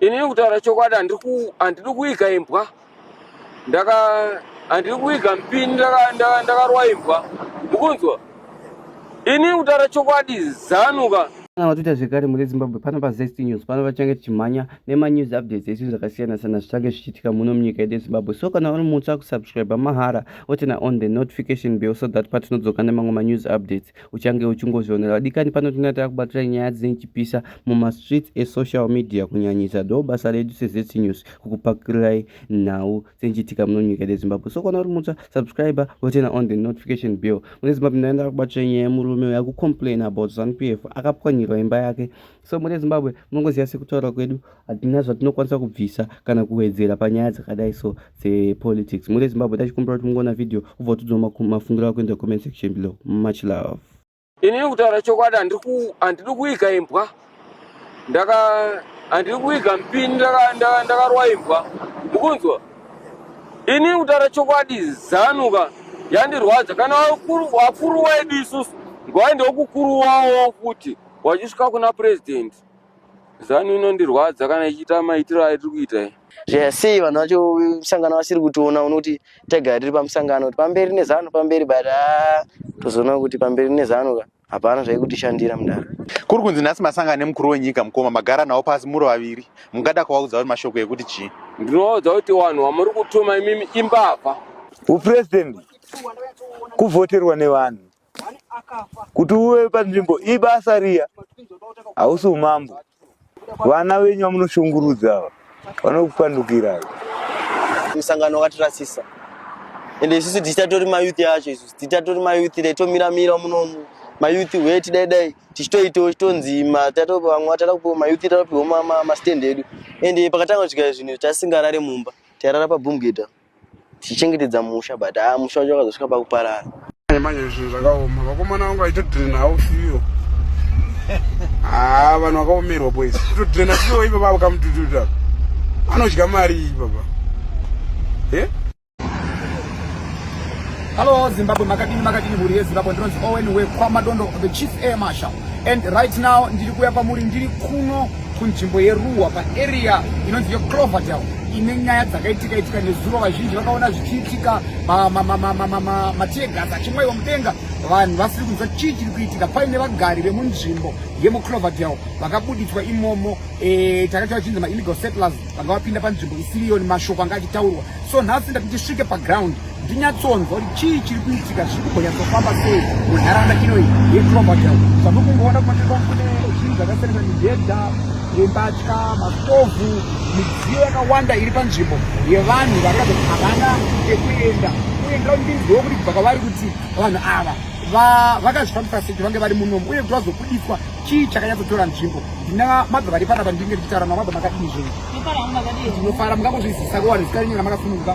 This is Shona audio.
Ini kutaura chokwadi handidi kuiga imbwa ndaka handidi kuiga mpini ndakarwa imbwa mukunzwa ini kutaura chokwadi zanuka vatoita zvekare mune zimbabwe pano pazest news pano vachange tichimhanya nemanews updates esu zvakasiyana sana zvichange zvichiitika muno munyika yedu yezimbabwe so kana uri mutsva kusubscribe mahara otena on the notification bill so that patinodzoka nemamwe manews updates uchange uchingozvionera vadikani pano tinenge tava kubatira nyaya dzine chipisa mumastreets esocial media kunyanyisa ndo basa redu sezc news kukupakirirai nhau dzinochiitika muno nyika yedu yezimbabwe so kana uri mutsva subscriber wotena on the notification bill mune zimbabwe ndaenda kubatira nyaya yemurume uyo akucomplain about zanu p f akapwanyirwa imba yake so mune zimbabwe munongoziva sekutaura kwedu hatina zvatinokwanisa kubvisa kana kuwedzera panyaya dzakadai so dzepolitics mune zimbabwe tachikumbira kuti mungoona vhideo ubva utidzwa mafungiro ako inde comment section below much love inini kutaura chokwadi handidi kuiga imbwa ndaka handiri kuiga mpini ndakarwa imbwa mukunzwa inini kutaura chokwadi zanuka yandirwadza kana wakuru wedu isusu ngwaende wokukuruwawo futi wachisvika kuna president zanu inondirwadza kana ichiita maitiro aitiri kuita iyi yes vanhu vacho musangano vasiri kutiona unoti tega tiri pamusangano kuti pamberi nezanu pamberi but ah, tozoona kuti pamberi nezanu ka hapana zvaikutishandira mudara kuri kunzi nhasi masangano emukuru wenyika mukoma magara nawo pasi muri vaviri mungada kuvaudza kuti mashoko ekuti chii ndinovaudza kuti vanhu vamuri kutuma imimi imbavha upresident kuvhoterwa nevanhu kuti uve panzvimbo ibasa riya hausi umambo vana venyu vamunoshungurudza ava vanokupandukira musangano wakatirasisa ende isusu tichitatori mayouth yacho isusu tichitatori mayouth dai tomira mira munomu mayouth weti dai dai tichitoitawo chitonzi matatopa vamwe vatara kupiwa mayouth tatopiwa mastand edu ende pakatanga kusvika zvinhu tasingarare mumba tairara pabumgeta tichichengetedza musha but haa ah, musha wacho wakazosvika pakuparara manje zvinhu zvakaoma vakomana vangu vaitodrena hausiyo haa ah, vanhu vakaomerwa boys kutodrena siyo ipapa vakamutututa anodya mari ipapa e eh? Hello Zimbabwe, makadini makadini mhuri yeZimbabwe, ndinonzi Owen wekwaMadondo, the chief air marshal. And right now ndiri kuya kwamuri ndiri kuno kunzvimbo yeruwa paarea inonzi yecloverdale ine nyaya dzakaitika itika nezuro vazhinji vakaona zvichiitika matiegas achimwaiwa mudenga vanhu vasiri kunzwa chii chiri kuitika paine vagari vemunzvimbo yemucloverdale vakabuditswa imomo eh, takati vachinzi maillegal settlers vanga vapinda panzvimbo isiriyo nemashoko anga achitaurwa so nhasi ndati ndisvike paground ndinyatsonzwa kuti chii chiri kuitika zviri kumbonyatsofamba sei munharaunda inoi yecrovertel zvamuri kungoona kumatirwa kune zvinhu zvakasiyana mibhedha yembatya mastovhu midziyo yakawanda iri panzvimbo yevanhu varikuratidza kuti havana ekuenda uye ndira kuti ndinzwewo kuti kubva kwavari kuti vanhu ava vakazvifambisa sei kuti vange vari munomu uye kuti vazobudiswa chii chakanyatsotora nzvimbo ndina mabva vari panapa ndinge ndichitaura namabva makadini zvinhu ndinofara mukangozvizisa kuwanhu sikarinyora makasununguka